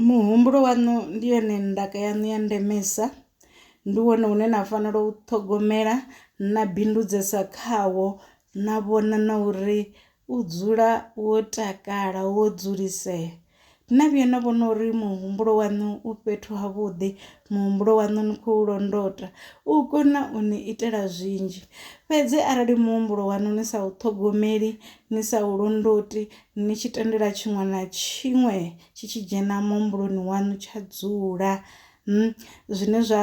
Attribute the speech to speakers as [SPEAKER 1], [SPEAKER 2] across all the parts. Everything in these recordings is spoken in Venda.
[SPEAKER 1] Muhumbulo waṋu ndi yone ndaka yaṋu ya ndemesa, ndi wone une na fanela u ṱhogomela na bindudzesa khawo na vhona na uri u dzula wo takala wo dzulisea. Na vhuya na vhona uri muhumbulo waṋu u fhethu ha vhuḓi muhumbulo waṋu ni khou londota u kona u ni itela zwinzhi, fhedzi arali muhumbulo waṋu ni sa u ṱhogomeli ni sa u londoti. Ni tshi tendela tshiṅwe na tshiṅwe tshi tshi dzhena muhumbuloni waṋu tsha dzula hmm, zwine zwa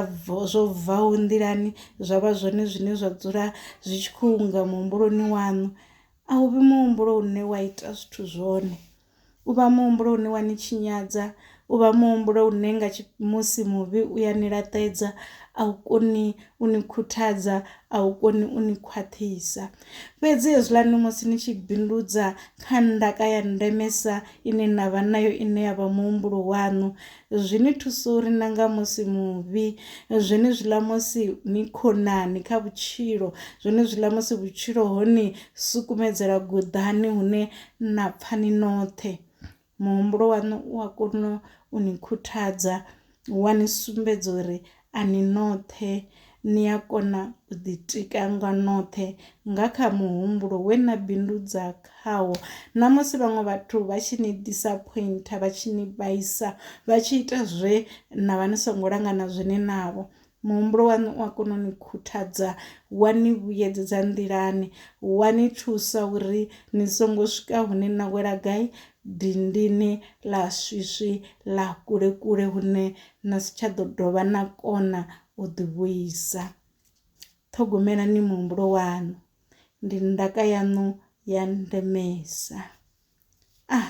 [SPEAKER 1] zwo bvaho nḓilani zwa vha zwone zwine zwa dzula zwi tshi khou unga muhumbuloni waṋu a u vhi muhumbulo une wa ita zwithu zwone u vha muhumbulo une wa ni tshinyadza U vha muhumbulo une nga musi muvhi u ya ni laṱedza, a u koni u ni khuthadza, a u koni u ni khwaṱhisa. Fhedzi hezwiḽani musi ni tshi bindudza kha ndaka ya ndemesa ine na vha nayo ine ya vha muhumbulo waṋu, zwi ni thusa uri na nga musi muvhi, zwenezwiḽa musi ni khonani kha vhutshilo, zwenezwiḽa musi vhutshilo ho ni sukumedzela guḓani hune na pfa ni noṱhe, Muhumbulo waṋu u a kona u ni khuthadza wa ni sumbedza uri a ni noṱhe, ni a kona u ḓitika nga noṱhe nga kha muhumbulo we na bindudza khawo. Na musi vhaṅwe vhathu vha tshi ni disaphointha, vha tshi ni vhaisa, vha tshi ita zwe na vha ni songo langana zwone navho, Muhumbulo waṋu u a kona u ni khuthadza, wa ni vhuyedzedza nḓilani, wa ni thusa uri ni songo swika hune na wela gai? Dindini ḽa swiswi ḽa kule-kule hune na si tsha ḓo dovha na kona u ḓivhuisa. Ṱhogomelani muhumbulo waṋu, ndi ndaka yaṋu ya ndemesa. Ah!